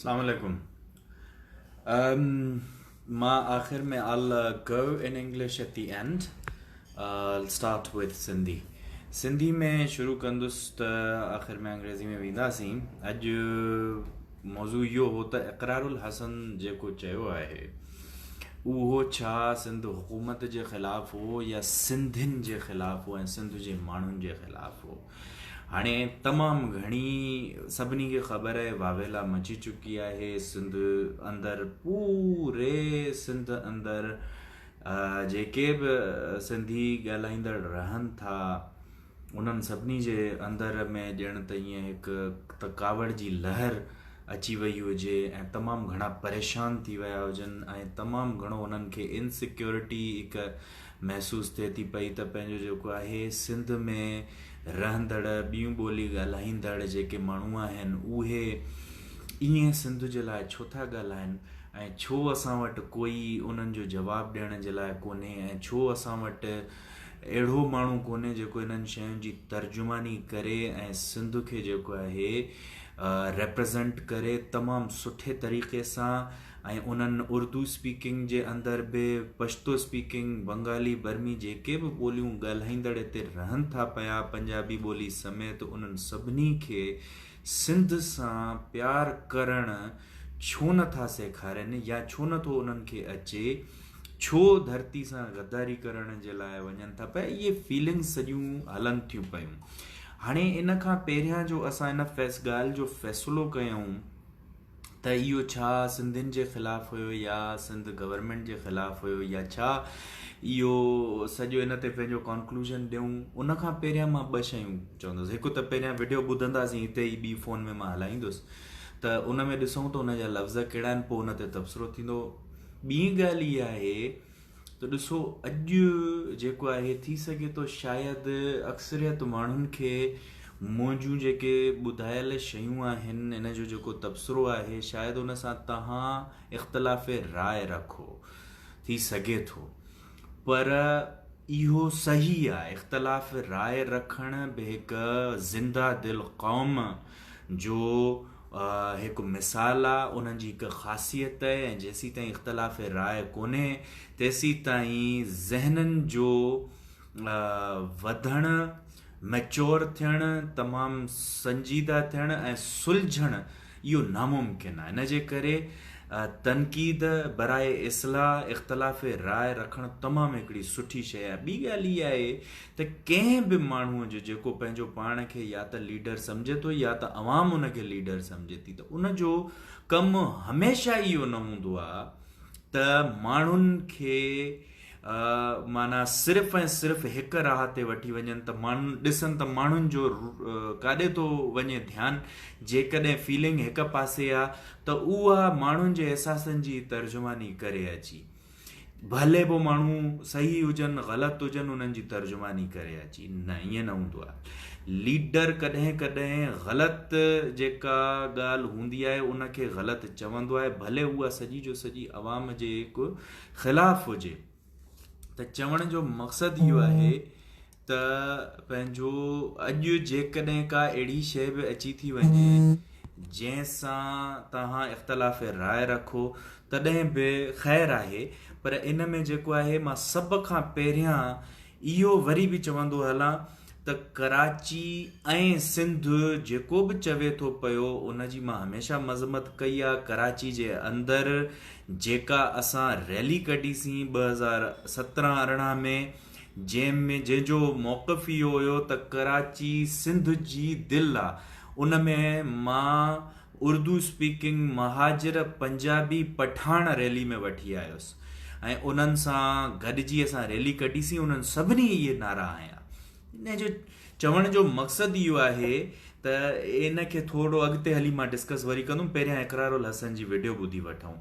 اسلام عليڪم مان آخر ۾ all go in English at the end start with Sindhi Sindhi ۾ شروع ڪندس ته آخر ۾ انگريزي ۾ وينداسين اڄ موضوع اهو هو ته اقرار الحسن جيڪو چيو آهي اهو ڇا سنڌ حڪومت جي خلاف هو يا سنڌين جي خلاف هو ۽ سنڌ جي ماڻهن جي خلاف هو هاڻي تمام گهڻي سڀني کي خبر آهي واويلا مچي چڪي آهي سنڌ اندر پوري سنڌ اندر جيڪي به سنڌي ڳالهائيندڙ رهن ٿا انهن سڀني جي اندر ۾ ڄڻ ته ائين هڪ ته ڪاوڙ جي لهر اچي وئي هجي ۽ تمام گهڻا پريشان ٿي ويا هجن ۽ تمام گهڻو انهن کي انسيڪيورٽي هڪ محسوس ٿئي ٿي پئي ته پنهنجو جيڪو آهي سنڌ ۾ رهندڙ ٻيون ٻولي ڳالهائيندڙ جيڪي ماڻهو آهن اهي ائين سنڌ جي لاء ڇو ٿا ڳالهائن ۽ ڇو اسان وٽ ڪوئي انهن جو جواب ڏيڻ جي لاء ڪونهي ۽ ڇو اسان وٽ اهڙو ماڻهو ڪونهي جيڪو انهن شين جي ترجماني ڪري ۽ سنڌ کي جيڪو آهي ريپريزنٽ ڪري تمام سٺي طريقي سان ۽ انهن اردو اسپيڪنگ جي اندر به پشتو اسپيڪنگ، بنگالي، برمي جيڪي به ٻوليون ڳالهائيندڙ اتي رهن ٿا پيا پنجابي ٻولي سميت انهن سڀني کي سنڌ سان پيار ڪرڻ ڇو نه ٿا سيکارين يا ڇو نه ٿو انهن کي اچي ڇو ڌرتي سان غداري ڪرڻ جي لاء وڃن ٿا پيا اهي فيلنگس سڄيون هلن ٿيون پيون هاڻي ان کان پهريان جو اسان ان فيس ڳالهه جو فيصلو ڪيون ته اهو ڇا سنڌين جي خلاف هيو يا سنڌ گورنمينٽ جي خلاف هيو يا ڇا اهو سڄو ان تي پنهنجو ڪانڪلوزن ڏيون ان کان پهريان مان ٻه شيون چوندس هڪ ته پهريان وڊيو ٻڌنداسين هتي ئي ٻي فون ۾ مان هلائيندس ته ان ۾ ڏسون ته ان جا لفظ ڪهڙا آهن پوء ان تي تبصرو ٿيندو ٻي ڳالهه اها آهي ته ڏسو اڄ جيڪو آهي ٿي سگهي ٿو شايد اڪثريت ماڻهن کي منهنجون جيڪي ٻڌايل شيون آهن ان جو جيڪو تبصرو آهي شايد ان سان تهان اختلاف راء رکو ٿي سگهي ٿو پر اهو صحيح آهي اختلاف راء رکڻ به هڪ زنده دل قوم جو هڪ مثال آ، انهن جي هڪ خاصيت ته ۽ جيسيتائين اختلاف راء ڪونهي تيسيتائين ذهنن جو وڌڻ، Mature، ٿيڻ، تمام سنجيده ٿيڻ ۽ سلجهڻ اهو ناممڪن آ. ان جي ڪري تنقيد براء اصلاح اختلاف راء رکڻ تمام هڪڙي سٺي شيء آ. ٻي ڳالهه اها آهي ته ڪنهن به ماڻهوء جو جيڪو پنهنجو پاڻ کي يا ته ليڊر سمجهي ٿو يا ته عوام ان کي ليڊر سمجهي ٿي ته ان جو ڪم هميشه اهو نه هوندو آهي ته ماڻهن کي معنيٰ صرف ۽ صرف هڪ راهه تي وٺي وڃن ته ماڻهن ڏسن ته ماڻهن جو ڪاڏي ٿو وڃي ڌيان جيڪڏهن فيلنگ هڪ پاسي آهي ته اها ماڻهن جي احساسن جي ترجماني ڪري اچي ڀلي پوء ماڻهو صحيح هجن غلط هجن انهن جي ترجماني ڪري اچي نه ائين نه هوندو آهي ليڊر ڪڏهن ڪڏهن غلط جيڪا ڳالهه هوندي آهي ان کي غلط چوندو آهي ڀلي اها سڄي جو سڄي عوام جي خلاف هجي ته چوڻ جو مقصد اهو آهي ته پنهنجو اڄ جيڪڏهن ڪا اهڙي شيء به اچي ٿي وڃي جنهن سان توهان اختلاف راء رکو تڏهن به خير آهي پر ان ۾ جيڪو آهي مان سڀ کان پهريان اهو وري به چوندو هلان ته ڪراچي ۽ سنڌ جيڪو به چوي ٿو پيو ان جي مان هميشه مذمت ڪئي آهي ڪراچي جي اندر جيڪا اسان ريلي ڪڍي سين ٻه هزار سترهن ارڙهن ۾ جنهن ۾ جنهن جو موقف اهو هيو ته ڪراچي سنڌ جي دل آ ان ۾ مان اردو اسپيڪنگ مهاجر پنجابي پٺاڻ ريلي ۾ وٺي آيس ۽ انهن سان گڏجي اسان ريلي ڪڍي سي انهن سڀني اهي نعرا هنيا ان جو چوڻ جو مقصد اهو آهي ته ان کي ٿورو اڳتي هلي مان ڊسڪس وري ڪندم پهريان اقرار الحسن جي وڊيو ٻڌي وٺون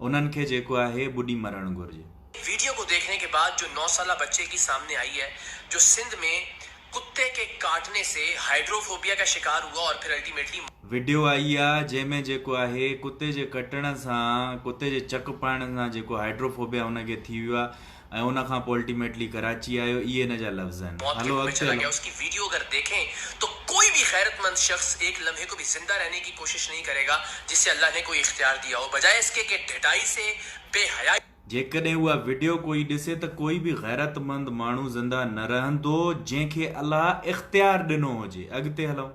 انهن کي جيڪو آهي ٻڏي مرڻ گهرجي. ويڊيو ڪو ديکھني ڪي بعد جو نو سالا بچي ڪي سامني آئي هي جو سنڌ مين ڪتي ڪي ڪاٽني سي هائيڊروفوبيا ڪا شڪار هوا اور پھر الٽيميٽلي ويڊيو آئي هي جنهن مين جيڪو آهي ڪتي جي ڪٽڻ سان ڪتي جي چڪ پائڻ سان جيڪو هائيڊروفوبيا هن کي ٿي ويو آ ۽ ان کان پوء الٽيميٽلي ڪراچي آيو اهي هن جا لفظ آهن هلو اڳتي هلون. اس ڪي ويڊيو اگر ديکين تو ڪوئي بي غيرت مند شخص ايڪ لمحي ڪو بي زنده رهني ڪي ڪوشش نهين ڪري گا جس سي الله ني ڪوئي اختيار ديا هو بجائي اس ڪي ڪي ڍٽائي سي بي حيائي جيڪڏهن اها وڊيو ڪوئي ڏسي ته ڪوئي به غيرت مند ماڻهو زنده نه رهندو جنهن کي الله اختيار ڏنو هجي اڳتي هلون.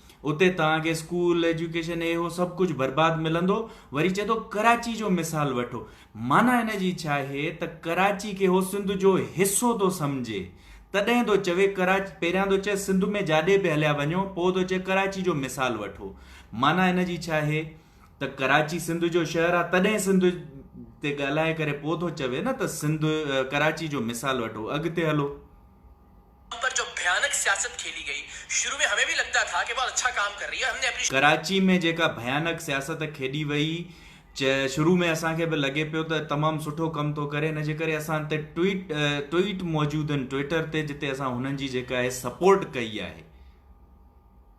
اتي توهان کي اسڪول، ايجوڪيشن هي هو سڀ ڪجهه برباد ملندو، وري چئي ٿو ڪراچي جو مثال وٺو، معنيٰ هن جي ڇا آهي ته ڪراچي کي هو سنڌ جو حصو ٿو سمجهي، تڏهن ٿو چوي ڪراچي، پهريان ٿو چئي سنڌ ۾ جاڏي به هليا وڃو، پوء ٿو چئي ڪراچي جو مثال وٺو، معنيٰ هن جي ڇا آهي ته ڪراچي سنڌ جو شهر آهي تڏهن سنڌ تي ڳالهائي ڪري پوء ٿو چوي نه ته سنڌ، ڪراچي جو مثال وٺو، اڳتي هلو. پر جو ڀيانڪ سياست کيلي گئي شروع ۾ همين به لڳتا ٿا ڪي بهت اڇا ڪام ڪر رهي هي همني اپني. ڪراچي ۾ جيڪا ڀيانڪ سياست کيڏي وئي چه شروع ۾ اسان کي به لڳي پيو ته تمام سٺو ڪم ٿو ڪري ان جي ڪري اسان تي ٽوئيٽ ٽوئيٽ موجودن ٽوئيٽر تي جتي اسان هنن جي جيڪا هي سپورٽ ڪئي آهي.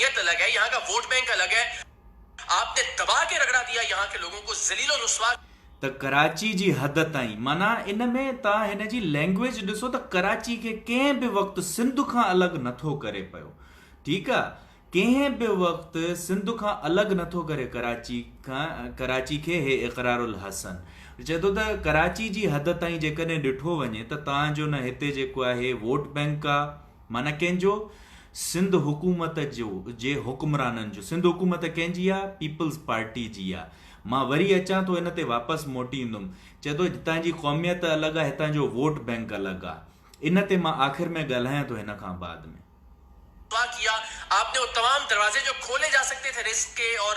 نیت الگ هي يهان ڪا ووٽ بينڪ الگ هي آپ ني دبا ڪي رگڙا ديا يهان ڪي لوگون ڪو ذليل و رسوا ته ڪراچي جي حد تائين معنيٰ ان ۾ توهان هن جي لينگويج ڏسو ته ڪراچي کي ڪنهن به وقت سنڌ کان الڳ نٿو ڪري پيو ٺيڪ آ ڪنهن به وقت سنڌ کان الڳ نٿو ڪري ڪراچي کان ڪراچي کي هي اقرار الحسن چئي ٿو ته ڪراچي جي حد تائين جيڪڏهن ڏٺو وڃي ته توهان جو نه هتي جيڪو آهي ووٽ بينڪ آ معنيٰ ڪنهن جو؟ سنڌ حڪومت جو جي حڪمرانن جو. سنڌ حڪومت ڪنهن جي آ؟ پيپلز پارٽي جي آ. مان وري اچان ٿو ان تي واپس موٽي ايندم. چئي ٿو جتان جي قوميت الڳ آ هتان جو ووٽ بينڪ الڳ آ. ان تي مان آخر ۾ ڳالهايان ٿو هن کان بعد ۾. دعا ڪيا آپ ني اور تمام دروازي جو کولي جا سڪتي ٿي رزق ڪي اور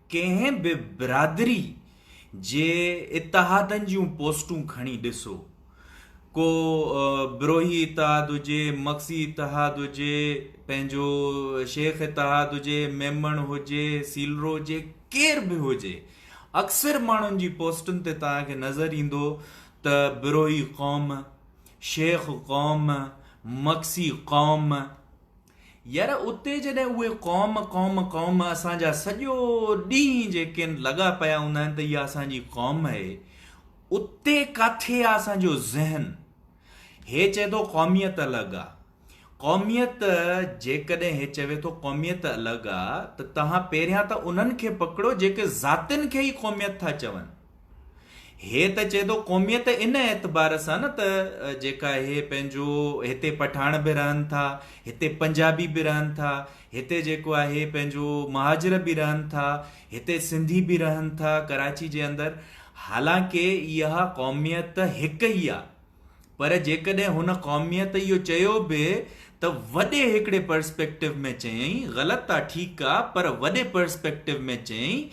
ڪنهن به برادري جي اتحادن جون پوسٽون کڻي ڏسو ڪو بروهي اتحاد هجي مگسي اتحاد هجي پنهنجو شيخ اتحاد هجي ميمڻ هجي سيلرو هجي ڪير به هجي اڪثر ماڻهن جي پوسٽن تي توهان کي نظر ايندو ته بروهي قوم شيخ قوم مگسي قوم ير اتي جڏهن اهي قوم قوم قوم اسان جا سڄو ڏينهن جيڪين لڳا پيا هوندا آهن ته اها اسان جي قوم آهي اتي ڪاٿي آهي اسان جو ذهن هي چئي ٿو قوميت الڳ آهي قوميت جيڪڏهن هي چوي ٿو قوميت الڳ آهي ته توهان پهريان ته انهن کي پڪڙو جيڪي ذاتين کي ئي قوميت ٿا چون هي ته چئي ٿو قوميت ان اعتبار سان نه ته جيڪا هي پنهنجو هتي پٺاڻ به رهن ٿا هتي پنجابي به رهن ٿا هتي جيڪو آهي پنهنجو مهاجر به رهن ٿا هتي سنڌي به رهن ٿا ڪراچي جي اندر حالانڪه اها قوميت هڪ ئي آهي پر جيڪڏهن هن قوميت اهو چيو به ته وڏي هڪڙي پرسپيڪٽو ۾ چيائين غلط آ ٺيڪ آ پر وڏي پرسپيڪٽو ۾ چيائين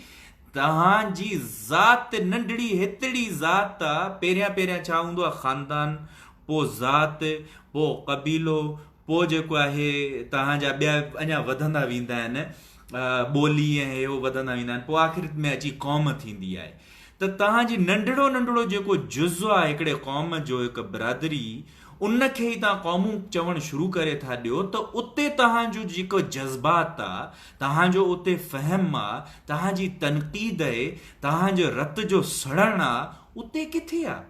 توهان جي ذات ننڍڙي هتڙي ذات آ پهريان پهريان ڇا هوندو آ خاندان پو ذات پو قبيلو پوء جيڪو آهي توهان جا ٻيا اڃا وڌندا ويندا آهن ٻولي ۽ هي هو وڌندا ويندا آهن پوء آخرت ۾ اچي قوم ٿيندي آهي ته توهان جي ننڍڙو ننڍڙو جيڪو جز آهي هڪڙي قوم جو هڪ برادري ان کي ئي توهان قومون چوڻ شروع ڪري ٿا ڏيو ته اتي توهان جو جيڪو جذبات آهي توهان جو اتي فهم آهي توهان جي تنقيد آهي توهان جو رت جو سڙڻ آهي اتي ڪٿي آهي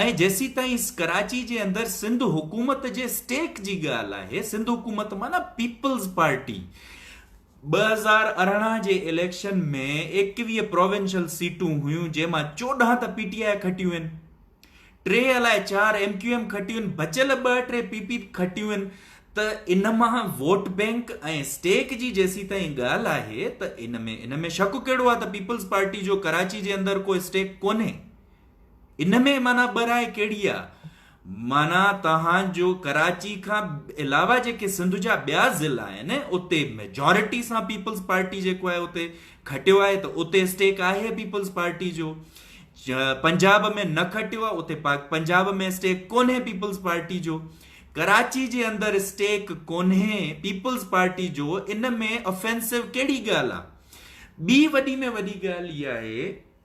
۽ جيسيتائين ڪراچي جي اندر سنڌ حڪومت جي اسٽيڪ جي ڳالهه آهي، سنڌ حڪومت معنيٰ پيپلز پارٽي ٻه هزار ارڙهن جي اليڪشن ۾ ايڪويهه پراونشل سيٽون هيون جنهن مان چوڏهن ته پي ٽي آء کٽيون آهن، ٽي الاء چار ايم ڪيو ايم کٽيون آهن، بچيل ٻه ٽي پي پي کٽيون آهن ته ان مان ووٽ بينڪ ۽ اسٽيڪ جي جيسيتائين ڳالهه آهي ته ان ۾ ان ۾ شڪ ڪهڙو آهي ته پيپلز پارٽي جو ڪراچي جي اندر ڪو اسٽيڪ ڪونهي. ان ۾ معنيٰ ٻه راء ڪهڙي آ؟ معنيٰ توهان جو ڪراچي کان علاوه جيڪي سنڌ جا ٻيا ضلع آهن اتي ميجارٽي سان پيپلز پارٽي جيڪو آهي اتي کٽيو آهي ته اتي اسٽيڪ آهي پيپلز پارٽي جو پنجاب ۾ نه کٽيو آهي اتي پنجاب ۾ اسٽيڪ ڪونهي پيپلز پارٽي جو ڪراچي جي اندر اسٽيڪ ڪونهي پيپلز پارٽي جو ان ۾ افينسو ڪهڙي ڳالهه آ ٻي وڏي ۾ وڏي ڳالهه اها آهي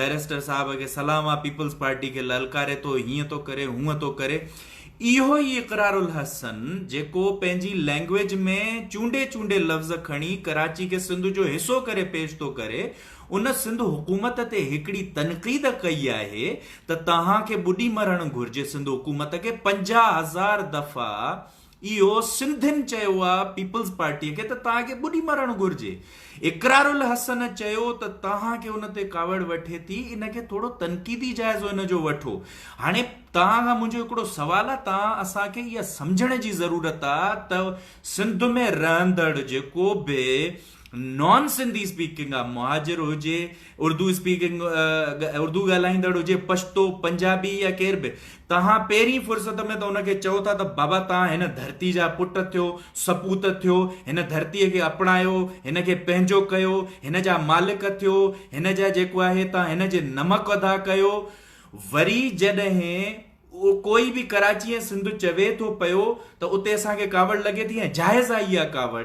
بئريسٽر صاحب کي سلام آ پيپلز پارٽي کي للڪاري ٿو هيئن ٿو ڪري هونء ٿو ڪري اهو ئي اقرار الحسن جيڪو پنهنجي لئنگويج ۾ چونڊي چونڊي لفظ کڻي ڪراچي کي سنڌ جو حصو ڪري پيش ٿو ڪري ان سنڌ حڪومت تي هڪڙي تنقيد ڪئي آهي ته توهان کي ٻڏي مرڻ گهرجي سنڌ حڪومت کي پنجاهه هزار دفعا اهو سنڌين چيو آ پيپلز پارٽي کي ته توهان کي ٻڏي مرڻ گهرجي اقرار الحسن چيو ته توهان کي ان تي ڪاوڙ وٺي ٿي ان کي ٿورو تنقيدي جائزو ان جو وٺو هاڻي توهان کان منهنجو هڪڙو سوال آ توهان اسان کي اها سمجهڻ جي ضرورت آ ته سنڌ ۾ رهندڙ جيڪو به نان سنڌي اسپيڪنگ آف مهاجر هجي اردو اسپيڪنگ اردو ڳالهائيندڙ هجي پشتو پنجابي يا ڪير به توهان پهرين فرصت ۾ ته ان کي چئو ٿا ته بابا توهان هن ڌرتي جا پٽ ٿيو سپوت ٿيو هن ڌرتيء کي اپنايو هن کي پنهنجو ڪيو هن جا مالڪ ٿيو هن جا جيڪو آهي توهان هن جي نمڪ ادا ڪيو وري جڏهن ڪوئي به ڪراچي ۽ سنڌ چوي ٿو پيو ته اتي اسان کي ڪاوڙ لڳي ٿي ۽ جائز آهي اها ڪاوڙ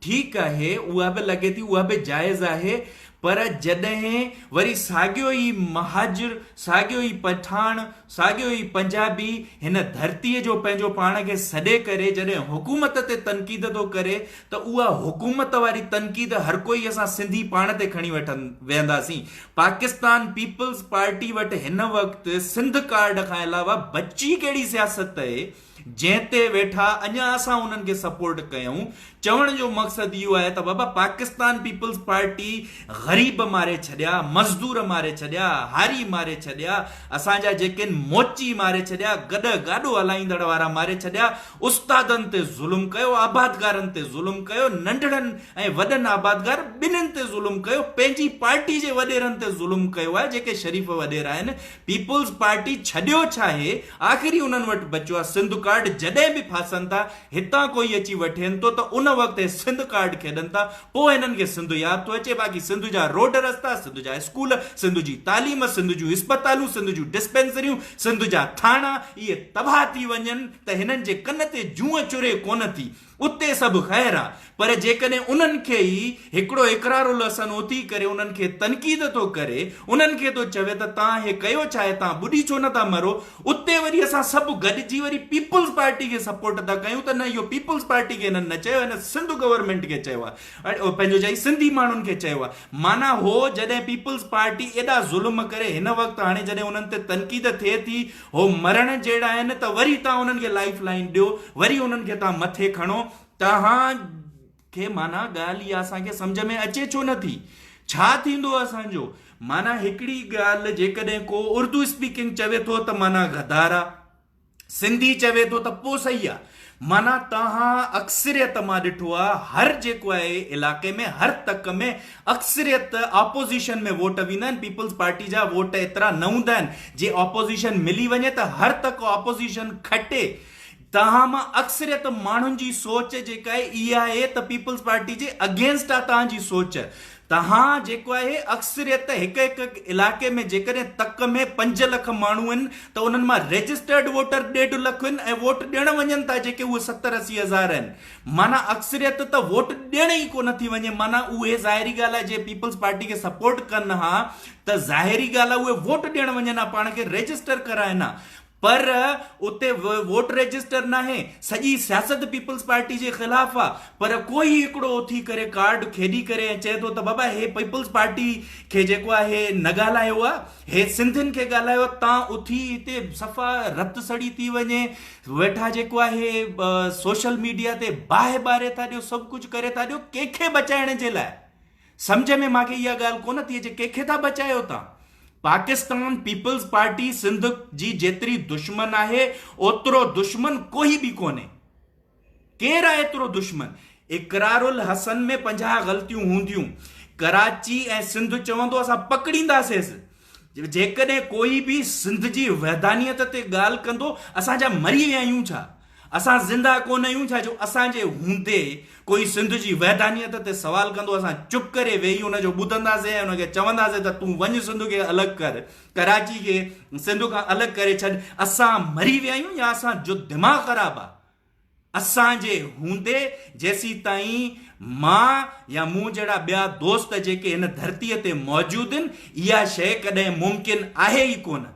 ٺيڪ آهي اها به لڳي ٿي اها به جائز آهي پر جڏهن وري ساڳيو ئي مهاجر ساڳيو ئي پٺاڻ ساڳيو ئي پنجابي هن ڌرتي جو پنهنجو پاڻ کي سڏي ڪري جڏهن حڪومت تي تنقيد ٿو ڪري ته اها حڪومت واري تنقيد هرڪوئي اسان سنڌي پاڻ تي کڻي وٺن ويهنداسين پاڪستان پيپلز پارٽي وٽ هن وقت سنڌ ڪارڊ کان علاوه بچي ڪهڙي سياست اهي جنهن تي ويٺا اڃا اسان انهن کي سپورٽ ڪيون چوڻ جو مقصد اهو آهي ته بابا پاڪستان پيپلز پارٽي غريب ماري ڇڏيا مزدور ماري ڇڏيا هاري ماري ڇڏيا اسان جا جيڪين موچي ماري ڇڏيا گڏ گاڏو هلائيندڙ وارا ماري ڇڏيا استادن تي ظلم ڪيو آبادگارن تي ظلم ڪيو ننڍڙن ۽ وڏن آبادگار ٻنهين تي ظلم ڪيو پنهنجي پارٽي جي وڏيرن تي ظلم ڪيو آهي جيڪي شريف وڏيرا آهن پيپلز پارٽي ڇڏيو ڇا هي آخر هي انهن وٽ بچيو آهي سنڌ ڪارڊ جڏهن به ڦاسن ٿا هتان ڪوئي اچي وٺين ٿو ته ان وقت هي سنڌ ڪارڊ کيڏن ٿا پوء هنن کي سنڌ ياد ٿو اچي باقي سنڌ جا روڊ رستا سنڌ جا اسڪول سنڌ جي تعليم سنڌ جون اسپتالون سنڌ جون ڊسپينسريون سنڌ جا ٿاڻا اهي تباهه ٿي وڃن ته هنن جي ڪن تي جونء چري ڪونه ٿي اتي سڀ خير آ پر جيڪڏهن انهن کي ئي هڪڙو اقرار الحسن اٿي ڪري انهن کي تنقيد ٿو ڪري انهن کي ٿو چوي ته تان هي ڪيو ڇاهي تان ٻڏي ڇو نه ٿا مرو اتي وري اسان سڀ گڏجي وري پيپلز پارٽي کي سپورٽ ٿا ڪيون ته نه اهو پيپلز پارٽي کي هنن نه چيو هن سنڌ گورنمينٽ کي چيو آ پنهنجو چائي سنڌي ماڻهن کي چيو آ معنيٰ هو جڏهن پيپلز پارٽي ايڏا ظلم ڪري هن وقت هاڻي جڏهن انهن تي تنقيد ٿئي ٿي هو مرڻ جهڙا آهن ته وري تان انهن کي لائف لائن ڏيو وري انهن کي تان مٿي کڻو تهان کي معنيٰ ڳالهه اها اسان کي سمجهه ۾ اچي ڇو نه ٿي ڇا ٿيندو اسان جو معنيٰ هڪڙي ڳالهه جيڪڏهن ڪو اردو اسپيڪنگ چوي ٿو ته معنيٰ غدار آ سنڌي چوي ٿو ته پوسئي آ معنيٰ توهان اڪثريت مان ڏٺو آ هر جيڪو آهي علاقي ۾ هر تڪ ۾ اڪثريت آپوزيشن ۾ ووٽ ويندا آهن پيپلز پارٽي جا ووٽ ايترا نه هوندا آهن جي آپوزيشن ملي وڃي ته هر تڪ آپوزيشن کٽي توهان مان اڪثريت ماڻهن جي سوچ جيڪا آهي اها آهي ته پيپلز پارٽي جي اگينسٽ آ توهان جي سوچ تهان جيڪو آهي اڪثريت هڪ هڪ علائقي ۾ جيڪڏهن تڪ ۾ پنج لک ماڻهو آهن ته انهن مان رجسٽرڊ ووٽر ڏيڍ لک آهن ۽ ووٽ ڏيڻ وڃن ٿا جيڪي اهي ستر اسي هزار آهن معنيٰ اڪثريت ته ووٽ ڏيڻ ئي ڪونه ٿي وڃي معنيٰ اهي ظاهري ڳالهه آهي جي پيپلز پارٽي کي سپورٽ ڪن ها ته ظاهري ڳالهه آهي اهي ووٽ ڏيڻ وڃن ها پاڻ کي رجسٽر ڪرائن ها پر اتي ووٽ رجسٽر ناهي، سڄي سياست پيپلز پارٽي جي خلاف آ، پر ڪوئي هڪڙو اٿي ڪري ڪارڊ کيڏي ڪري ۽ چئي ٿو ته بابا هي پيپلز پارٽي کي جيڪو آ هي نه ڳالهايو آ، هي سنڌين کي ڳالهايو آ، تان اٿي هتي صفا رت سڙي ٿي وڃي، ويٺا جيڪو آ هي سوشل ميڊيا تي باهه ٻاري ٿا ڏيو، سڀ ڪجهه ڪري ٿا ڏيو، ڪنهن کي بچائڻ جي لاء؟ سمجهه ۾ ماڳهي اها ڳالهه ڪونه ٿي اچي ڪنهن کي ٿا بچايو تان؟ پاڪستان پيپلز پارٽي سنڌ جي جيتري دشمن آهي اوترو دشمن ڪوهي به ڪونهي. ڪير آهي ايترو دشمن؟ اقرار الحسن ۾ پنجاهه غلطيون هونديون. ڪراچي ۽ سنڌ چوندو اسان پڪڙينداسيس. جيڪڏهن ڪوئي به سنڌ جي وحدانيت تي ڳالهه ڪندو اسان ڇا مري ويا آهيون ڇا؟ اسان زنده ڪونه آهيون ڇا جو اسان جي هوندي ڪوئي سنڌ جي وحدانيت تي سوال ڪندو اسان چپ ڪري ويهي ان جو ٻڌنداسين ۽ ان کي چونداسين ته تون وڃ سنڌ کي الڳ ڪر ڪراچي کي سنڌ کان الڳ ڪري ڇڏ اسان مري ويا آهيون يا اسان جو دماغ خراب آهي اسان جي هوندي جيسيتائين مان يا مون جهڙا ٻيا دوست جيڪي هن ڌرتيء تي موجود ان اها شيء ڪڏهن ممڪن آهي ئي ڪونه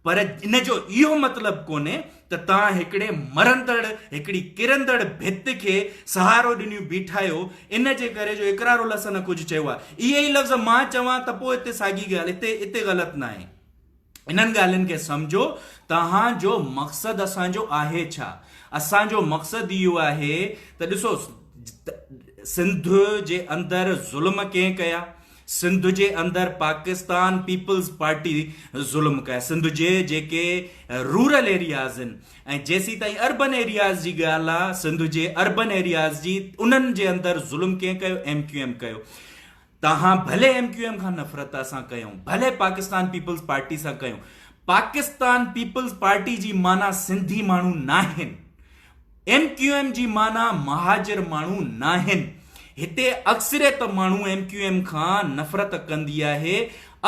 پر ان جو اهو مطلب ڪونهي ته توهان هڪڙي مرندڙ هڪڙي ڪرندڙ ڀت کي سهارو ڏنيون بيٺا آهيو ان جي ڪري جو اقرار الحسن ڪجهه چيو آهي اهي ئي لفظ مان چوان ته پوء هتي ساڳي ڳالهه هتي هتي غلط ناهي. انهن ڳالهين کي سمجهو، توهان جو مقصد اسان جو آهي ڇا؟ اسان جو مقصد اهو آهي ته ڏسو سنڌ جي اندر ظلم ڪنهن ڪيا، سنڌ جي اندر پاڪستان پيپلز پارٽي ظلم ڪيا، سنڌ جي جيڪي رورل ايرياز آهن ۽ جيسيتائين اربن ايرياز جي ڳالهه آهي، سنڌ جي اربن ايرياز جي انهن جي اندر ظلم ڪنهن ڪيو، ايم ڪيو ايم ڪيو. توهان ڀلي ايم ڪيو ايم کان نفرت اسان ڪيون ڀلي پاڪستان پيپلز پارٽي سان ڪيون پاڪستان پيپلز پارٽي جي معنيٰ سنڌي ماڻهو ناهن ايم ڪيو ايم جي معنيٰ مهاجر ماڻهو ناهن هتي اڪثريت ماڻهو ايم ڪيو ايم کان نفرت ڪندي آهي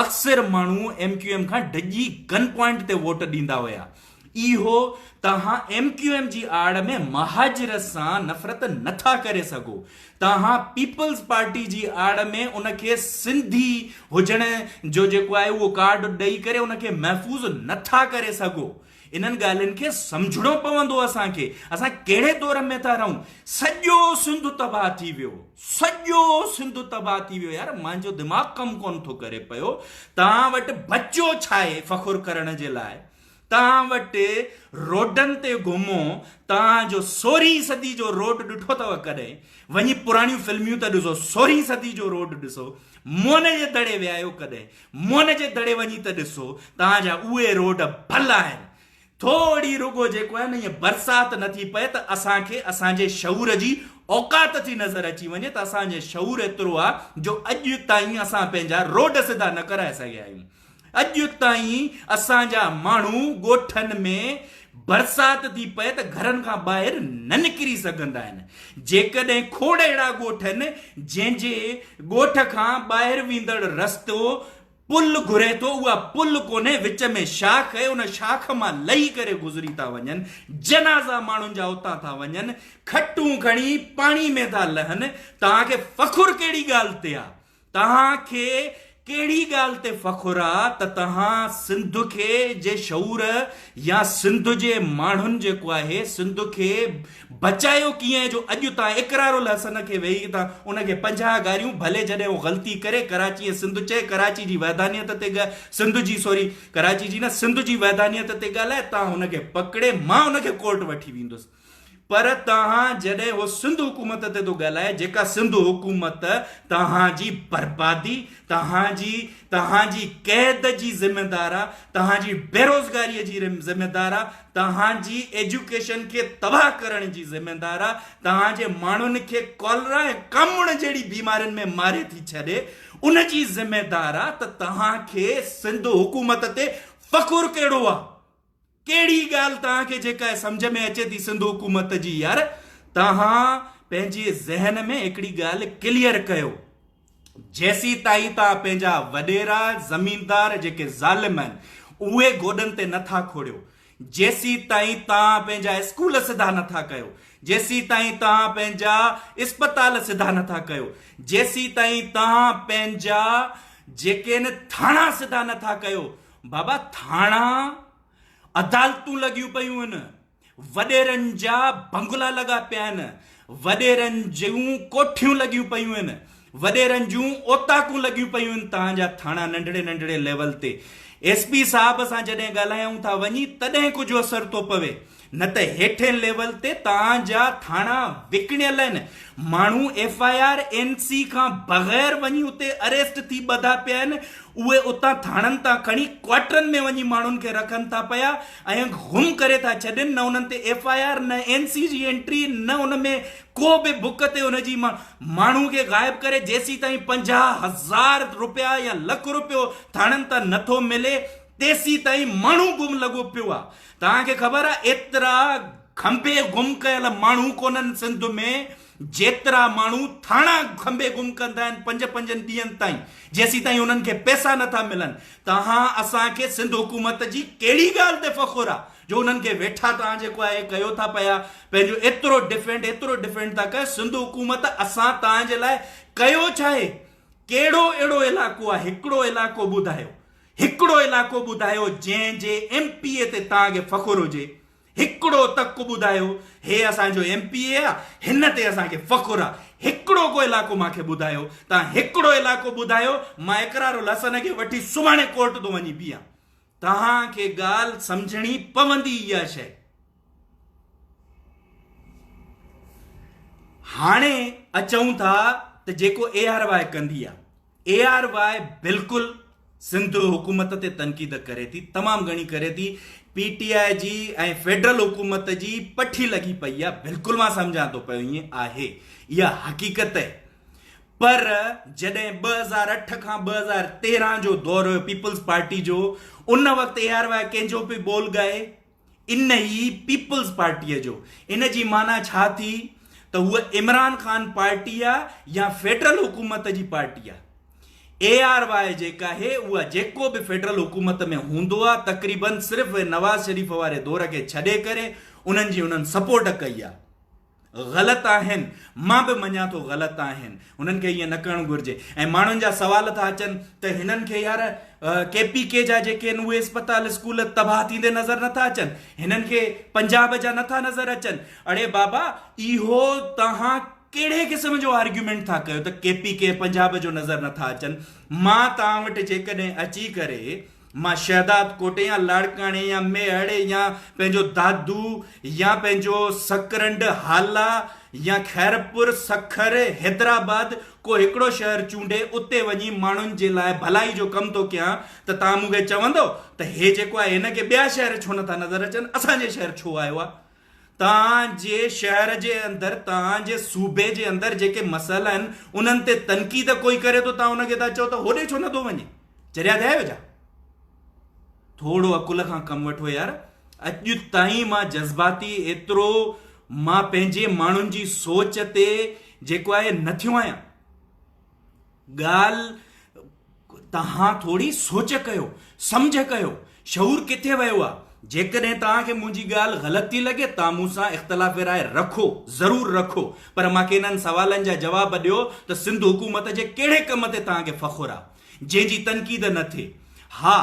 اڪثر ماڻهو ايم ڪيو ايم کان ڊڄي گن پوائنٽ تي ووٽ ڏيندا هيا اهو توهان ايم ڪيو ايم جي آڙ ۾ مهاجر سان نفرت نه ٿا ڪري سگهو توهان پيپلز پارٽي جي آڙ ۾ ان کي سنڌي هجڻ جو جيڪو آهي اهو ڪارڊ ڏئي ڪري ان کي محفوظ نه ٿا ڪري سگهو انهن ڳالهين کي سمجهڻو پوندو اسان کي اسان ڪهڙي دور ۾ ٿا رهون سڄو سنڌ تباهه ٿي ويو سڄو سنڌ تباهه ٿي ويو يار منهنجو دماغ ڪم ڪون ٿو ڪري پيو توهان وٽ بچو ڇا آهي فخر ڪرڻ جي لاء توهان وٽ روڊن تي گهمو توهان جو سورهين صدي جو روڊ ڏٺو اٿو ڪڏهن؟ وڃي پراڻيون فلميون ته ڏسو سورهين صدي جو روڊ ڏسو موهن جي دڙي ويا آهيو ڪڏهن؟ موهن جي دڙي وڃي ته ڏسو توهان جا اهي روڊ ڀل آهن ٿورڙي رڳو جيڪو آهي نه ائين برسات نه ٿي پئي ته اسان کي اسان جي شعور جي اوقات ٿي نظر اچي وڃي ته اسان جي شعور ايترو آهي جو اڄ تائين اسان پنهنجا روڊ سڌا نه ڪرائي سگهيا آهيون. اڄ تائين اسان جا ماڻهو ڳوٺن ۾ برسات ٿي پئي ته گهرن کان ٻاهر نه نڪري سگهندا آهن، جيڪڏهن کوڙ اهڙا ڳوٺ آهن جنهن جي ڳوٺ کان ٻاهر ويندڙ رستو پل گهري ٿو اها پل ڪونهي وچ ۾ شاخ اهي ان شاخ مان لهي ڪري گذري ٿا وڃن جنازا ماڻهن جا اتان ٿا وڃن کٽون کڻي پاڻي ۾ ٿا لهن توهان کي فخر ڪهڙي ڳالهه تي آهي. توهان کي ڪهڙي ڳالهه تي فخر آ ته توهان سنڌ کي جي شعور يا سنڌ جي ماڻهن جيڪو آهي سنڌ کي بچايو ڪيئن جو اڄ تان اقرار الحسن کي ويهي ته ان کي پنجاهه گاريون ڀلي جڏهن هو غلطي ڪري ڪراچي ۽ سنڌ چئي ڪراچي جي ويڌانيت تي سنڌ جي سوري ڪراچي جي نه سنڌ جي ويڌانيت تي ڳالهائي تان ان کي پڪڙي مان ان کي ڪورٽ وٺي ويندس. پر توهان جڏهن اهو سنڌ حڪومت تي ٿو ڳالهائي جيڪا سنڌ حڪومت توهان جي بربادي توهان جي توهان جي قيد جي ذميدار آ توهان جي بيروزگاري جي ذميدار آ توهان جي ايجوڪيشن کي تباهه ڪرڻ جي ذميدار آ توهان جي ماڻهن کي ڪالرا ۽ ڪامڻ جهڙي بيمارين ۾ ماري ٿي ڇڏي ان جي ذميدار آ ته توهان کي سنڌ حڪومت تي فخر ڪهڙو آ. ڪهڙي ڳالهه توهان کي جيڪا سمجهه ۾ اچي ٿي سنڌ حڪومت جي يار توهان پنهنجي ذهن ۾ هڪڙي ڳالهه ڪليئر ڪيو جيسي تائين توهان پنهنجا وڏيرا زميندار جيڪي ظالم آهن اهي گوڏن تي نٿا کوڙيو جيسي تائين توهان پنهنجا اسڪول سڌا نٿا ڪيو جيسي تائين توهان پنهنجا اسپتال سڌا نٿا ڪيو جيسي تائين توهان پنهنجا جيڪي ٿاڻا سڌا نٿا ڪيو بابا ٿاڻا، عدالتون لڳيون پيون آهن، وڏيرن جا بنگلا لڳا پيا آهن، وڏيرن جون ڪوٺيون لڳيون پيون آهن، وڏيرن جون اوطاقون لڳيون پيون آهن توهان جا ٿاڻا ننڍڙي ننڍڙي ليول تي ايس پي صاحب سان جڏهن ڳالهايائون ٿا وڃي تڏهن ڪجهه اثر ٿو پوي نه ته هيٺين ليول تي توهان جا ٿاڻا وڪڻيل آهن، ماڻهو F I R, N C کان بغير وڃي اتي اريسٽ ٿي ٻڌا پيا آهن، اهي اتان ٿاڻن تان کڻي ڪوارٽرن ۾ وڃي ماڻهن کي رکن ٿا پيا ۽ غم ڪري ٿا ڇڏين، نه انهن تي ايف آء آر، نه اين سي جي انٽري، نه ان ۾ ڪو به بڪ تي ان جي ماڻهو کي غائب ڪري جيسيتائين پنجاهه هزار روپيا يا لک روپيو ٿاڻن تان نٿو ملي تيسيتائين ماڻهو گم لڳو پيو آهي. توهان کي خبر آ ايترا کنڀي گم ڪيل ماڻهو ڪونهن سنڌ ۾ جيترا ماڻهو ٿاڻا کنڀي گم ڪندا آهن پنج پنجن ڏينهن تائين جيسين تائين انهن کي پئسا نٿا ملن توهان اسان کي سنڌ حڪومت جي ڪهڙي ڳالهه تي فخر آ جو انهن کي ويٺا توهان جيڪو آهي ڪيو ٿا پيا پنهنجو ايترو ڊفينڊ ايترو ڊفينڊ ٿا ڪيو سنڌ حڪومت اسان توهان جي لاء ڪيو ڇا آهي ڪهڙو اهڙو علائقو آهي هڪڙو علائقو ٻڌايو هڪڙو علائقو ٻڌايو جنهن جي ايم پي اي تي توهان کي فخر هجي هڪڙو تڪ ٻڌايو هي اسان جو ايم پي اي آ هن تي اسان کي فخر آ هڪڙو ڪو علائقو مان کي ٻڌايو توهان هڪڙو علائقو ٻڌايو مان اقرار الحسن کي وٺي سڀاڻي ڪورٽ تون وڃي بيهان توهان کي ڳالهه سمجهڻي پوندي اها شئي. هاڻي اچون ٿا ته جيڪو اي آر واء ڪندي آ اي آر واء بلڪل سنڌ حڪومت تي تنقيد ڪري ٿي تمام گهڻي ڪري ٿي پي ٽي آء جي ۽ فيڊرل حڪومت جي پٺي لڳي پئي آ بلڪل مان سمجهان ٿو پيو ائين آهي اها حقيقت آهي پر جڏهن ٻه هزار اٺ کان ٻه هزار تيرهن جو دور هيو پيپلز پارٽي جو ان وقت اي آر واء ڪنهن جو پي بول ڳائي ان ئي پيپلز پارٽيء جو. ان جي معنيٰ ڇا ٿي ته هوء عمران خان پارٽي آ يا فيڊرل حڪومت جي پارٽي آ. اي آر واء جيڪا هي اها جيڪو به فيڊرل حڪومت ۾ هوندو آ تقريبن صرف نواز شريف واري دور کي ڇڏي ڪري انهن جي انهن سپورٽ ڪئي آ. غلط آهن مان به مڃان ٿو غلط آهن هنن کي ائين نه ڪرڻ گهرجي ۽ ماڻهن جا سوال ٿا اچن ته هنن کي يار ڪي پي ڪي جا جيڪي آهن اهي اسپتال اسڪول تباهه ٿيندي نظر نٿا اچن هنن کي پنجاب جا نٿا نظر اچن اڙي بابا اهو توهان ڪهڙي قسم جو آرگيومينٽ ٿا ڪيو ته ڪي پي ڪي پنجاب جو نظر نٿا اچن مان توهان وٽ جيڪڏهن اچي ڪري مان شهداد ڪوٽي يا لاڙڪاڻي يا ميهڙي يا پنهنجو دادو يا پنهنجو سڪرنڊ هالا يا خيرپور، سکر، حيدرآباد ڪو هڪڙو شهر چونڊي اتي وڃي ماڻهن جي لاء ڀلائي جو ڪم ٿو ڪيان ته توهان مون کي چوندؤ ته هي جيڪو آهي هن کي ٻيا شهر ڇو نٿا نظر اچن اسان جي شهر ڇو آيو آهي. توهان جي شهر جي اندر توهان جي صوبي جي اندر جيڪي مسئلا آهن انهن تي تنقيد ڪوئي ڪري ٿو توهان ان کي ٿا چئو ته هوڏي ڇو نه ٿو وڃي چريا ٿيا آهيو ڇا ٿورو عقل کان ڪم وٺو يار اڄ تائين مان جذباتي ايترو مان پنهنجي ماڻهن جي سوچ تي جيڪو آهي نه ٿيو آهيان ڳالهه توهان ٿوري سوچ ڪيو، سمجهه ڪيو، شعور ڪٿي ويو آ؟ جيڪڏهن توهان کي منهنجي ڳالهه غلط ٿي لڳي توهان مون سان اختلاف راء رکو، ضرور رکو، پر مان کي انهن سوالن جا جواب ڏيو ته سنڌ حڪومت جي ڪهڙي ڪم تي توهان کي فخر آ، جنهن جي تنقيد نه ٿئي؟ ها!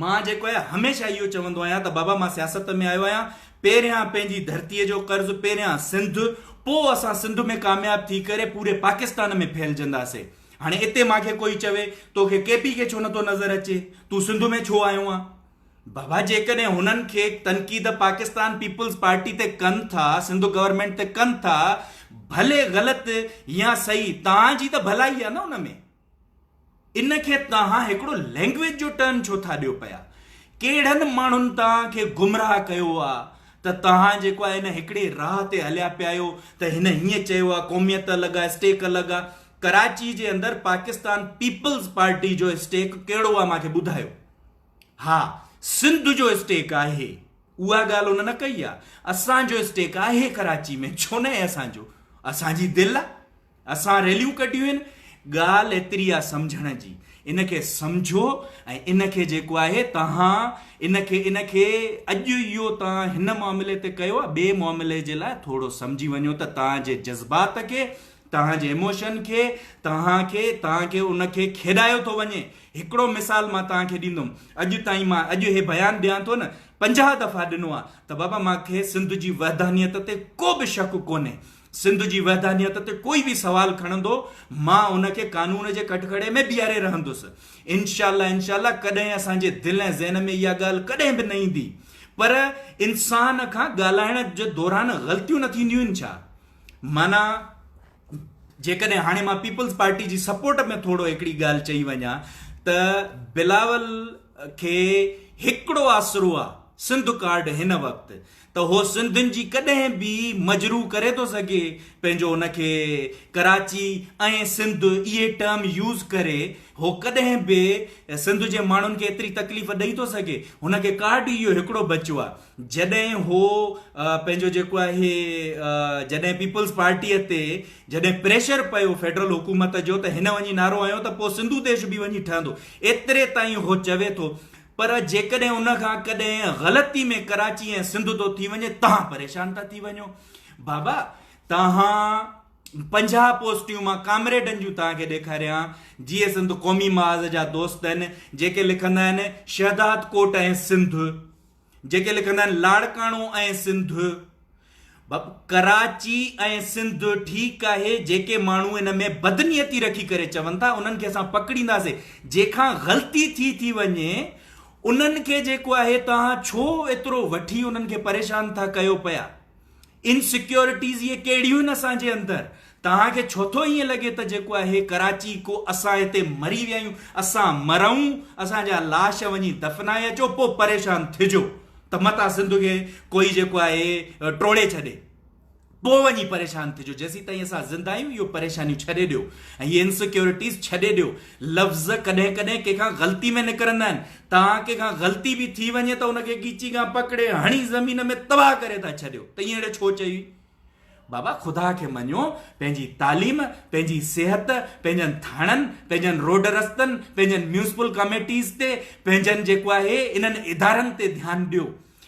مان جيڪو آهي هميشه اهو چوندو آهيان ته بابا مان سياست ۾ آيو آهيان پهريان پنهنجي ڌرتي جو قرض پهريان سنڌ پو اسان سنڌ ۾ ڪامياب ٿي ڪري پوري پاڪستان ۾ ڦهلجنداسي هاڻي اتي مان کي ڪوئي چوي توکي ڪي پي کي ڇو نٿو نظر اچي تون سنڌ ۾ ڇو آيو آهي بابا جيڪڏهن هنن کي تنقيد پاڪستان پيپلز پارٽي تي ڪن ٿا سنڌ گورنمنٽ تي ڪن ٿا ڀلي غلط يا صحيح تان جي ته ڀلائي آهي نه ان ۾ ان کي توهان هڪڙو لينگويج جو ٽرم ڇو ٿا ڏيو پيا ڪهڙن ماڻهن توهان کي گمراهه ڪيو آ ته توهان جيڪو آ ان هڪڙي راهه تي هليا پيا آهيو ته هن هيئن چيو آ قوميت الڳ آ اسٽيڪ الڳ آ ڪراچي جي اندر پاڪستان پيپلز پارٽي جو اسٽيڪ ڪهڙو آ مانکي ٻڌايو ها سنڌ جو اسٽيڪ آهي اها ڳالهه ان نه ڪئي آ اسان جو اسٽيڪ آهي ڪراچي ۾ ڇو نه آهي اسان جو اسان جي دل آ اسان ريليون ڪڍيون آهن ڳالهه ايتري آ سمجهڻ جي ان کي سمجهو ۽ ان کي جيڪو آهي تهان ان کي ان کي اڄ اهو تهان هن معاملي تي ڪيو آ ٻي معاملي جي لاء ٿورو سمجهي وڃو ته تهان جي جذبات کي تهان جي اموشن کي تهان کي تهان کي ان کي کيڏايو ٿو وڃي هڪڙو مثال مان تهان کي ڏيندم اڄ تائين مان اڄ هي بيان ڏيان ٿو نه 50 دفعا ڏنو آ ته بابا مان کي سنڌ جي وحدانيت تي ڪو به شڪ ڪونهي سنڌ جي وحدانيت تي ڪوئي به سوال کڻندو مان ان کي قانون جي ڪٽگهڙي ۾ بيهاري رهندس انشاء الله انشاء الله ڪڏهن اسان جي دل ۽ ذهن ۾ اها ڳالهه ڪڏهن به نه ايندي پر انسان کان ڳالهائڻ جي دوران غلطيون نه ٿينديون آهن ڇا معنيٰ جيڪڏهن هاڻي مان پيپلز پارٽي جي سپورٽ ۾ ٿورو هڪڙي ڳالهه چئي وڃان ته بلاول کي هڪڙو آسرو آهي سنڌ ڪارڊ هن وقت ته هو سنڌين جي ڪڏهن به مجروح ڪري ٿو سگهي پنهنجو ان کي ڪراچي ۽ سنڌ اهي ٽرم يوز ڪري هو ڪڏهن به سنڌ جي ماڻهن کي ايتري تڪليف ڏئي ٿو سگهي هن کي ڪارڊ ئي اهو هڪڙو بچيو آهي جڏهن هو پنهنجو جيڪو آهي جڏهن پيپلز پارٽي تي جڏهن پريشر پيو فيڊرل حڪومت جو ته هن وڃي نعرو هنيو ته پوء سنڌو ديش به وڃي ٺهندو ايتري تائين هو چوي ٿو پر جيڪڏهن ان کان ڪڏهن غلطي ۾ ڪراچي ۽ سنڌ ٿو ٿي وڃي تهان پريشان ٿا ٿي وڃو بابا تهان پنجاهه پوسٽيون مان ڪامريڊن جون تهان کي ڏيکاريان جي سنڌ قومي محاذ جا دوست آهن جيڪي لکندا آهن شهداد ڪوٽ ۽ سنڌ جيڪي لکندا آهن لاڙڪاڻو ۽ سنڌ بب ڪراچي ۽ سنڌ ٺيڪ آهي جيڪي ماڻهو ان ۾ بدنيتي رکي ڪري چون ٿا انهن کي اسان پڪڙينداسي جنهن کان غلطي ٿي ٿي وڃي انهن کي جيڪو آهي توهان ڇو ايترو وٺي انهن کي پريشان ٿا ڪيو پيا انسيڪيورٽيز اهي ڪهڙيون آهن اسان جي اندر توهان کي ڇو ٿو ائين لڳي ته جيڪو اهي ڪراچي ڪو اسان هتي مري ويا آهيون اسان مرئون اسان جا لاش وڃي دفنائي اچو پو پريشان ٿجو ته متان سنڌ کي ڪوئي جيڪو آهي ٽوڙي ڇڏي پو وڃي پريشان ٿجو جيسيتائين اسان زنده آهيون اهو پريشانيون ڇڏي ڏيو ۽ هي انسيڪيورٽيز ڇڏي ڏيو لفظ ڪڏهن ڪڏهن ڪنهن کان غلطي ۾ نڪرندا آهن توهان ڪنهن کان غلطي به ٿي وڃي ته ان کي ڳيچي کان پڪڙي هڻي زمين ۾ تباهه ڪري ٿا ڇڏيو ته اهڙي ڇو چئي بابا خدا کي مڃو، پنهنجي تعليم، پنهنجي صحت، پنهنجن ٿاڻن، پنهنجن روڊ رستن، پنهنجن ميونسپل ڪاميٽيز تي، پنهنجن جيڪو آهي انهن ادارن تي ڌيان ڏيو.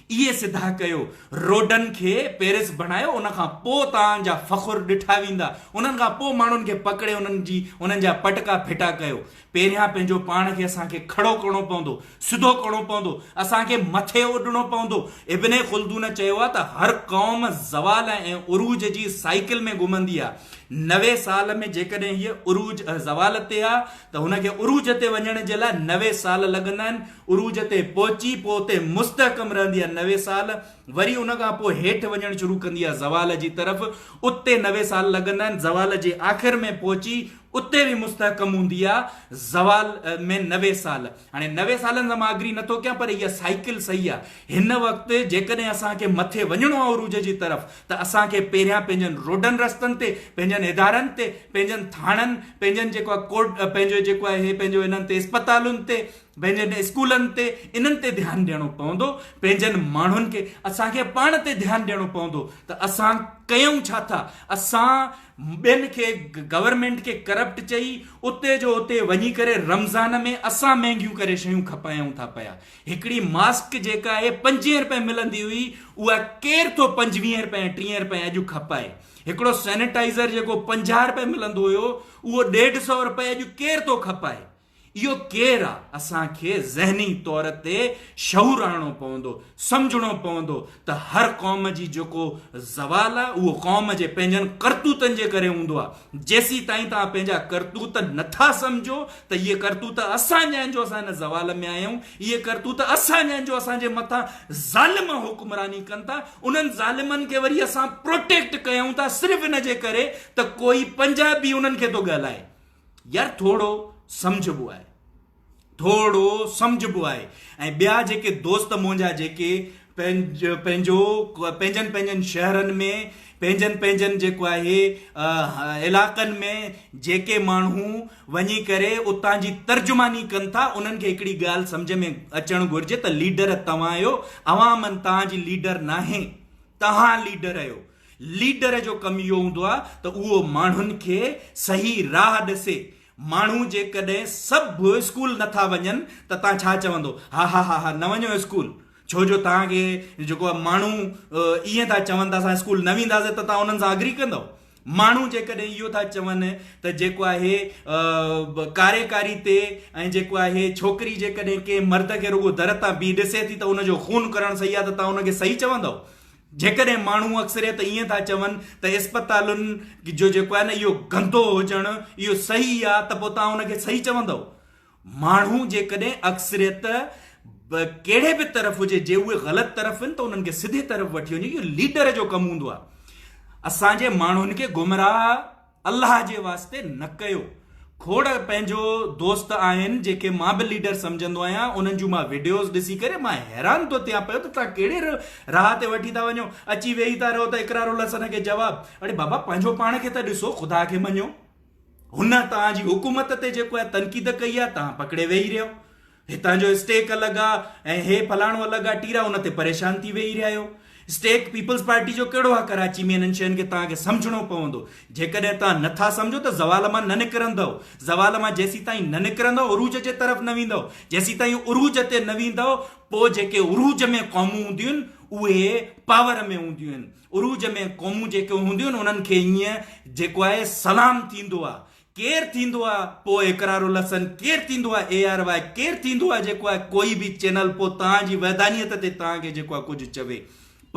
اهي سڌا ڪيو. روڊن کي پيرس بڻايو ان کان پوء توهان جا فخر ڏٺا ويندا. انهن کان پوء ماڻهن کي پڪڙي انهن جي انهن جا پٽڪا ڦٽا ڪيو. پهريان پنهنجو پاڻ کي اسان کي کڙو ڪرڻو پوندو، سڌو ڪرڻو پوندو، اسان کي مٿي اڏڻو پوندو. ابن خلدون چيو آهي ته هر قوم زوال ۽ عروج جي سائيڪل ۾ گهمندي آهي. نوي سال ۾ جيڪڏهن هيء عروج ۽ زوال تي آهي ته هن کي عروج تي وڃڻ جي لاء نوي سال لڳندا آهن. عروج تي پهچي پوء اتي مستحڪم رهندي آهي نوي سال، وري ان کان پوء هيٺ وڃڻ شروع ڪندي آهي زوال جي طرف، اتي نوي سال لڳندا آهن، زوال جي آخر ۾ پهچي اتي به مستحڪم هوندي آ زوال ۾ نوي سال هاڻي نوي سالن سان مان اگري نٿو ڪيان پر اها سائيڪل صحيح آ هن وقت جيڪڏهن اسان کي مٿي وڃڻو آ عروج جي طرف ته اسان کي پهريان پنهنجن روڊن رستن تي پنهنجن ادارن تي پنهنجن ٿاڻن پنهنجن جيڪو آ ڪورٽ پنهنجو جيڪو آ هي پنهنجو هنن تي اسپتالن تي پنهنجن اسڪولن تي انهن تي ڌيان ڏيڻو پوندو پنهنجن ماڻهن کي اسان کي پاڻ تي ڌيان ڏيڻو پوندو ته اسان ڪيون ڇا ٿا اسان ٻين کي گورنمينٽ کي ڪرپٽ چئي اتي جو اتي وڃي ڪري رمضان ۾ اسان مهنگيون ڪري شيون کپايون ٿا پيا هڪڙي ماسڪ جيڪا اهي پنجين رپين ملندي هئي اها ڪير ٿو پنجويهين رپين ٽيهين رپين اڄ کپائي هڪڙو سينيٽائزر جيڪو پنجاهه رپين ملندو هيو اهو ڏيڍ سئو رپين اڄ ڪير ٿو کپائي اهو ڪير آ؟ اسان کي ذهني طور تي شعور آڻڻو پوندو، سمجهڻو پوندو ته هر قوم جي جيڪو زوال آ اهو قوم جي پنهنجن ڪرتوتن جي ڪري هوندو آ، جيسيتائين توهان پنهنجا ڪرتوت نه ٿا سمجهو ته اهي ڪرتوت اسان جا آهن جو اسان هن زوال ۾ آيا آهيون، اهي ڪرتوت اسان جا آهن جو اسان جي مٿان ظالم حڪمراني ڪن ٿا، انهن ظالمن کي وري اسان پروٽيڪٽ ڪيون ٿا صرف ان جي ڪري ته ڪوئي پنجابي انهن کي ٿو ڳالهائي، يار ٿورڙو سمجهبو آهي ٿورڙو سمجهبو آهي ۽ ٻيا جيڪي دوست منهنجا جيڪي پنهنجو پنهنجو پنهنجن پنهنجن شهرن ۾ پنهنجن پنهنجن جيڪو آهي علائقن ۾ جيڪي ماڻهو وڃي ڪري اتان جي ترجماني ڪن ٿا انهن کي هڪڙي ڳالهه سمجهه ۾ اچڻ گهرجي ته ليڊر توهان آهيو عوام توهان جي ليڊر ناهي توهان ليڊر آهيو ليڊر جو ڪم اهو هوندو آهي ته اهو ماڻهن کي صحيح راهه ڏسي. ماڻهو جيڪڏهن سڀ اسڪول نه ٿا وڃن ته تان ڇا چوندو؟ هاهاهاها نه وڃو اسڪول ڇو جو تان کي جيڪو آهي ماڻهو ائين ٿا چون ته اسان اسڪول نه وينداسين ته تان انهن سان اگري ڪندو؟ ماڻهو جيڪڏهن اهو ٿا چون ته جيڪو آهي ڪاريڪاري تي ۽ جيڪو آهي ڇوڪري جيڪڏهن ڪنهن مرد کي رڳو در تان بيهي ڏسي ٿي ته ان جو خون ڪرڻ صحيح آهي ته تان ان کي صحيح چوندو؟ جيڪڏهن ماڻهو اڪثريت ائين ٿا چون ته اسپتالن جو جيڪو آهي نه اهو گندو هجڻ اهو صحيح آهي ته پوء تان ان کي صحيح چوندو ماڻهو جيڪڏهن اڪثريت ڪهڙي به طرف هجي جي اهي غلط طرف آهن ته انهن کي سڌي طرف وٺي وڃي اهو ليڊر جو ڪم هوندو آهي اسان جي ماڻهن کي گمراهه الله جي واسطي نه ڪيو. کوڙ پنهنجو دوست آهن جيڪي مان به ليڊر سمجهندو آهيان انهن جون مان وڊيوز ڏسي ڪري مان حيران ٿو ٿيان پيو ته توهان ڪهڙي راهه تي وٺي ٿا وڃو اچي ويهي ٿا رهو ته اقرار الحسن کي جواب اڙي بابا پنهنجو پاڻ کي ته ڏسو خدا کي مڃو هن توهان جي حڪومت تي جيڪو تنقيد ڪئي آهي توهان پڪڙي ويهي رهيو هتان جو اسٽيڪ الڳ آ ۽ هي فلاڻو الڳ آ ٽيرا ان تي پريشان ٿي ويهي رهيا آهيو. اسٽيڪ پيپلز پارٽي جو ڪهڙو آ ڪراچي ۾ انهن شين کي توهان کي سمجهڻو پوندو. جيڪڏهن توهان نه ٿا سمجهو ته زوال مان نه نڪرندؤ. زوال مان جيسيتائين نه نڪرندؤ عروج جي طرف نه ويندؤ. جيسيتائين عروج تي نه ويندؤ پو جيڪي عروج ۾ قومون هونديون آهن اهي پاور ۾ هونديون آهن. عروج ۾ قومون جيڪي هونديون آهن انهن کي ائين جيڪو آهي سلام ٿيندو آ ڪير ٿيندو آ پو اقرار الحسن ڪير ٿيندو آ اي آر واء ڪير ٿيندو آ جيڪو آ ڪوئي به چينل پو تان جي وحدانيت تي تان کي جيڪو آ ڪجھ چوي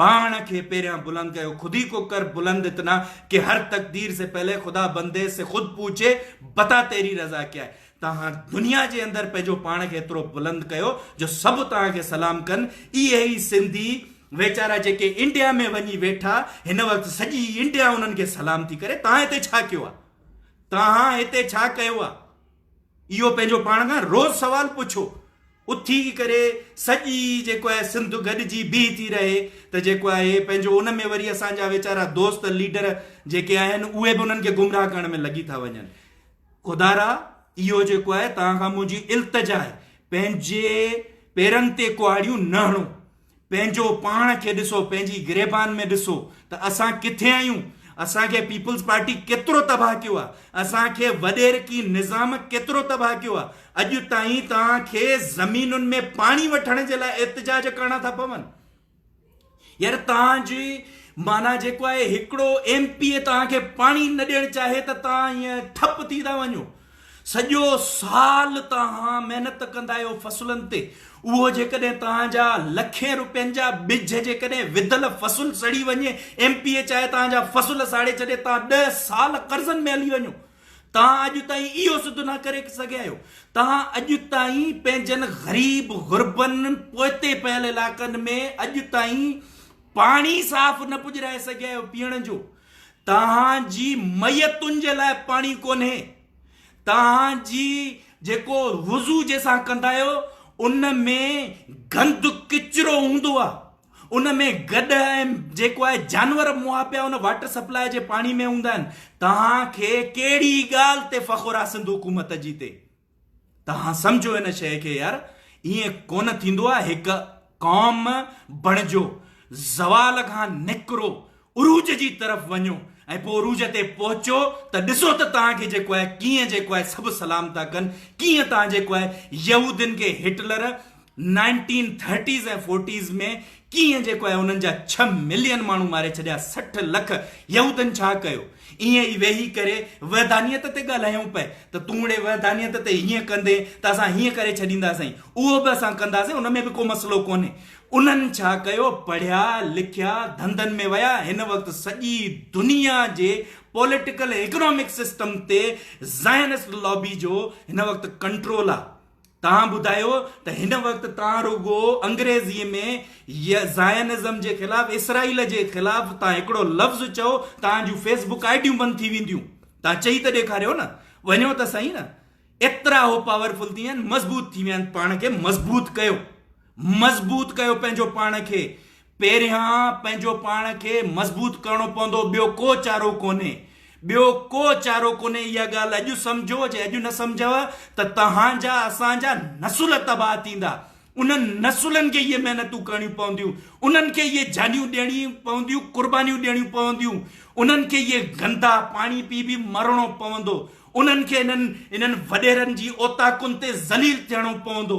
پاڻ کي پهريان بلند ڪيو خودي ڪو ڪر بلند اتنا ڪي هر تقدير سي پهلي خدا بندي سي خود پوڇي بتا تيري رضا ڪيا هي تان هاڻ دنيا جي اندر پنهنجو پاڻ کي ايترو بلند ڪيو جو سڀ تان کي سلام ڪن اهي ئي سنڌي ويچارا جيڪي انڊيا ۾ وڃي ويٺا هن وقت سڄي انڊيا انهن کي سلام ٿي ڪري تان هتي ڇا ڪيو آ. توهان هتي ڇا ڪيو آ؟ اهو پنهنجو پاڻ کان روز سوال پڇو. اٿي ڪري سڄي جيڪو آهي سنڌ گڏجي بيهي ٿي رهي ته جيڪو آهي پنهنجو ان ۾ وري اسان جا ويچارا دوست ليڊر جيڪي آهن اهي به انهن کي گمراهه ڪرڻ ۾ لڳي ٿا وڃن. خدا را اهو جيڪو آهي توهان کان منهنجي التجا آهي پنهنجي پيرن تي ڪهاڙيون نه هڻو. پنهنجو پاڻ کي ڏسو، پنهنجي گريبان ۾ ڏسو ته اسان ڪٿي آهيون، اسان کي پيپلز پارٽي ڪيترو تباهه ڪيو آهي، اسان کي وڏيرڪي نظام ڪيترو تباهه ڪيو آهي، اڄ تائين توهان کي زمينن ۾ پاڻي وٺڻ جي لاء احتجاج ڪرڻا ٿا پون. يار توهان جي معنيٰ جيڪو آهي هڪڙو ايم پي اي توهان کي پاڻي نه ڏيڻ چاهي ته توهان ائين ٺپ ٿي ٿا وڃو. سڄو سال توهان محنت ڪندا آهيو فصلن تي اهو جيڪڏهن توهان جا لکين روپين جا ٻج جيڪڏهن وڌل فصل سڙي وڃي ايم پي اي چاهي توهان جا فصل ساڙي ڇڏي توهان ڏهه سال قرضن ۾ هلي وڃو توهان اڄ تائين اهو سڌ نه ڪري سگهيا آهيو توهان اڄ تائين پنهنجن غريب غربن پوئتي پيل علاقن ۾ اڄ تائين پاڻي صاف نه پڄرائي سگهيا آهيو پيئڻ جو توهان جي ميتن جي لاء پاڻي ڪونهي. توهان جي جيڪو وضو جنهن سان ڪندا آهيو ان ۾ گند ڪچرو هوندو آهي. ان ۾ گڏهه ۽ جيڪو آهي جانور مئا پيا ان واٽر سپلاء جي پاڻي ۾ هوندا آهن. توهان کي ڪهڙي ڳالهه تي فخر آهي سنڌ حڪومت جي تي. توهان سمجهو ان شيء کي يار، ائين ڪونه ٿيندو آهي، هڪ قوم بڻجو، زوال کان نڪرو، عروج جي طرف وڃو ۽ پوء عروج تي پهچو ته ڏسو ته توهان کي جيڪو آهي ڪيئن جيڪو آهي سڀ سلام ٿا ڪن، ڪيئن توهان جيڪو آهي يهودين کي هٽلر نائنٽين ٿرٽيز ۽ فورٽيز ۾ ڪيئن جيڪو آهي انهن جا ڇهه ملين ماڻهو ماري ڇڏيا سٺ لک يهودن ڇا ڪيو ائين ئي ويهي ڪري وحدانيت تي ڳالهايون پئي ته تون اڙي وحدانيت تي هيئن ڪندين ته اسان هيئن ڪري ڇڏينداسين اهو به اسان ڪنداسين ان ۾ به ڪو مسئلو ڪونهي انهن ڇا ڪيو پڙهيا لکيا ڌنڌن ۾ ويا هن وقت سڄي دنيا جي پوليٽيڪل ۽ اڪنامڪ سسٽم تي زائنسٽ لابي جو هن وقت ڪنٽرول آهي توهان ٻڌايو ته هن وقت توهان رڳو انگريزيء ۾ زائنزم جي خلاف اسرائيل جي خلاف توهان هڪڙو لفظ چئو توهان جون فيس بڪ آئي ڊيون بند ٿي وينديون توهان چئي ته ڏيکاريو نه وڃو ته سهي نه ايترا هو پاورفل ٿي ويا آهن مضبوط ٿي ويا آهن پاڻ کي مضبوط ڪيو. مضبوط ڪيو پنهنجو پاڻ کي پهريان پنهنجو پاڻ کي مضبوط ڪرڻو پوندو ٻيو ڪو چارو ڪونهي ٻيو ڪو چارو ڪونهي اها ڳالهه اڄ سمجهو جي اڄ نه سمجهيو ته توهان جا اسان جا نسل تباهه ٿيندا انهن نسلن کي اهي محنتون ڪرڻيون پونديون انهن کي اهي جانيون ڏيڻيون پونديون قربانيون ڏيڻيون پونديون انهن کي اهي گندا پاڻي پي پي مرڻو پوندو انهن کي انهن انهن وڏيرن جي اوطاقن تي ذليل ٿيڻو پوندو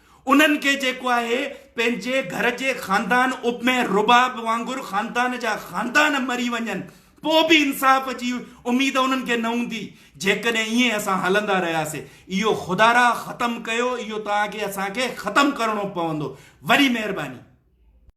انهن کي جيڪو آهي پنهنجي گهر جي خاندان ابمي رباب وانگر خاندان جا خاندان مري وڃن پو به انصاف جي اميد انهن کي نه هوندي جيڪڏهن ائين اسان هلندا رهياسي اهو خدارا ختم ڪيو اهو توهان کي اسان کي ختم ڪرڻو پوندو وڏي مهرباني.